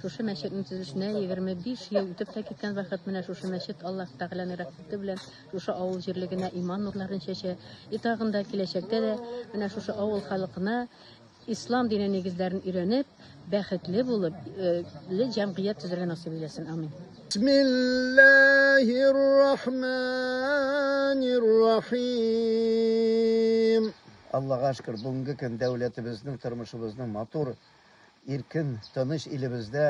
Шушы мәчетнең төзелешенә 25 ел үтеп тә киткән вакыт менә шушы мәчет Аллаһ Тәгаләнең рәхмәте белән шушы авыл җирлегенә иман нурларын чәчә. И тагын да киләчәктә дә менә шушы авыл халкына ислам дине нигезләрен өйрәнеп, бәхетле булып, э, ле җәмгыять төзергә насыйп итсен. Амин. Бисмиллаһир рахманир рахим. Аллага шөкер, бүгенге көн дәүләтебезнең, тормышыбызның матур Иркен, тыныч илебездә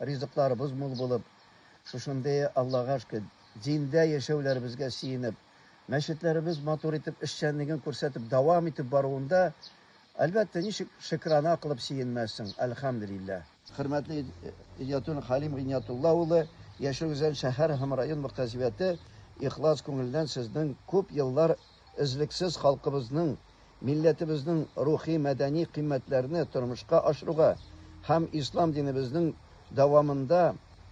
ризыкларыбыз мул булып, шушындый Аллага шөкер, диндә яшәүләребезгә сөенеп, мәчетләребез матур итеп эшчәнлеген күрсәтеп дәвам итеп баруында, әлбәттә, ничек шөкерана кылып сөенмәссең, әлхәмделилла. Хөрмәтле Идиятуллин Хәлим Гыйниятулла улы, яшәү Өзән шәһәр һәм район мөхтәсибәте ихлас күңелдән сезнең күп еллар Өзлексез халкыбызның, милләтебезнең рухи-мәдәни кыйммәтләрне тормышка ашыруга һәм ислам динебезнең дәвамында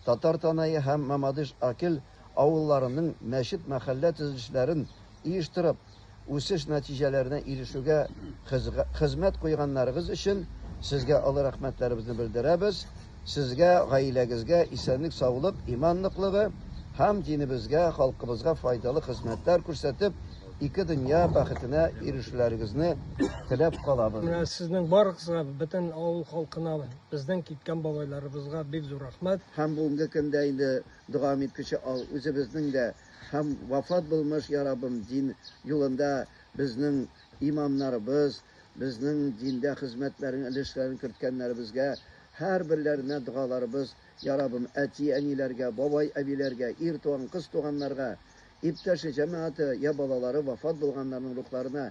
Татар Танае һәм Мамадыш-Акел авылларының мәчет-мәхәллә төзелешләрен оештырып, үсеш нәтиҗәләренә ирешүгә хезмәт куйганнарыгыз өчен сезгә олы рәхмәтләребезне белдерәбез, Сезгә, гаиләгезгә исәнлек саулык, иман ныклыгы һәм динебезгә, халкыбызга файдалы хезмәтләр күрсәтеп, ике дөнья бәхетенә ирешүләрегезне теләп калабыз. Менә сезнең барыгызга, бөтен авыл халкына, безнең киткән бабайларыбызга бик зур рәхмәт. Һәм бүгенге көндә инде дога иткече ал, үзебезнең дә һәм вафат булмыш, я Раббым, дин юлында безнең имамнарыбыз, Безнең диндә хезмәтләрен, өлешләрен керткәннәребезгә һәрберләренә догаларыбыз, Йа Раббым, әти-әниләргә, бабай-әбиләргә, ир туган, кыз туганнарга, иптәше-җәмәгате йә балалары вафат булганнарның рухларына,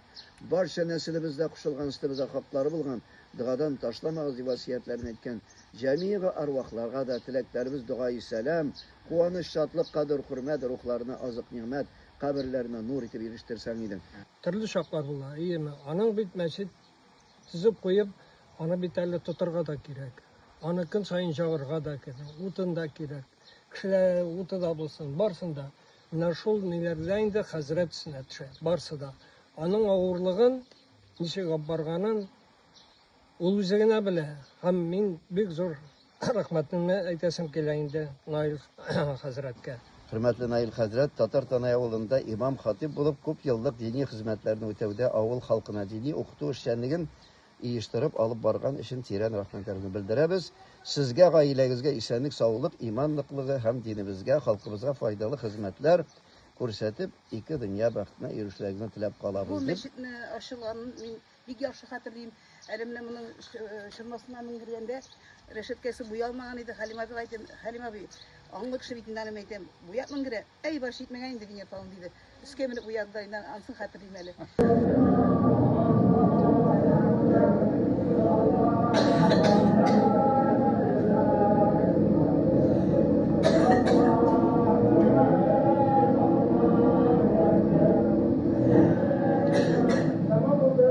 барча нәселебездә кушылган өстебездә хаклары булган, догадан ташламагыз, дип васыятьләрен әйткән җәмигъи арвахларга да теләкләребез, дога-и сәлам, куаныч, шатлык, кадер-хөрмәт, рухларына азык-нигъмәт, Каберләренә нур итеп ирештерсәң иде. Төрле чаклар була, әйеме? Аның бит мәчет төзеп куеп, аны бит әле тотырга да кирәк. Аны көн саен җагырга да кирәк, утын да кирәк. Кешеләр уты да булсын, барсын да. Менә шул ниләрдә инде хәзрәт өстенә төшә, барсы да. Аның авырлыгын, ничек алып барганын, Ул үзе генә белә. Һәм мин бик зур рәхмәтемне әйтәсем килә инде Наил хәзрәткә. Хөрмәтле Наил хәзрәт, Татар Танай авылында имам-хатыйб булып күп еллык дини хезмәтләрне үтәүдә авыл халкына дини укыту эшчәнлеген иештырып алып барган өчен тирән рәхмәтләрне белдерәбез. Сезгә, гаиләгезгә исәнлек, саулык, иман ныклыгы һәм динебезгә, халкыбызга файдалы хезмәтләр күрсәтеп, ике дөнья бәхетенә ирешүегезне теләп калабыз, дип. Бу мәчетне ачылганын мин Бик яхшы хәтерлим, әле менә моның чормасына менгергәндә, рәшәткәсе буялмаган иде, Хәлим абыга әйтәм, Хәлим абый, аңлы кеше бит инде аны әйтәм, буяп менгерә, әй баш җитмәгән инде винья талын диде. Өскә менеп уянды да, инде анысын хәтерлим әле. Тәмам булды.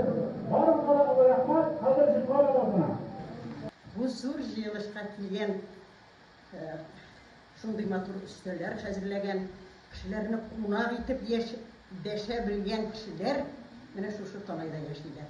Барыгызга да олы рәхмәт. Хәзер җырлар авазына. Бу зур җыелышка килгән, шундый матур өстәлләр хәзерләгән, кешеләрне кунак итеп яши, дәшә белгән кешеләр менә шушы талайда яшиләр.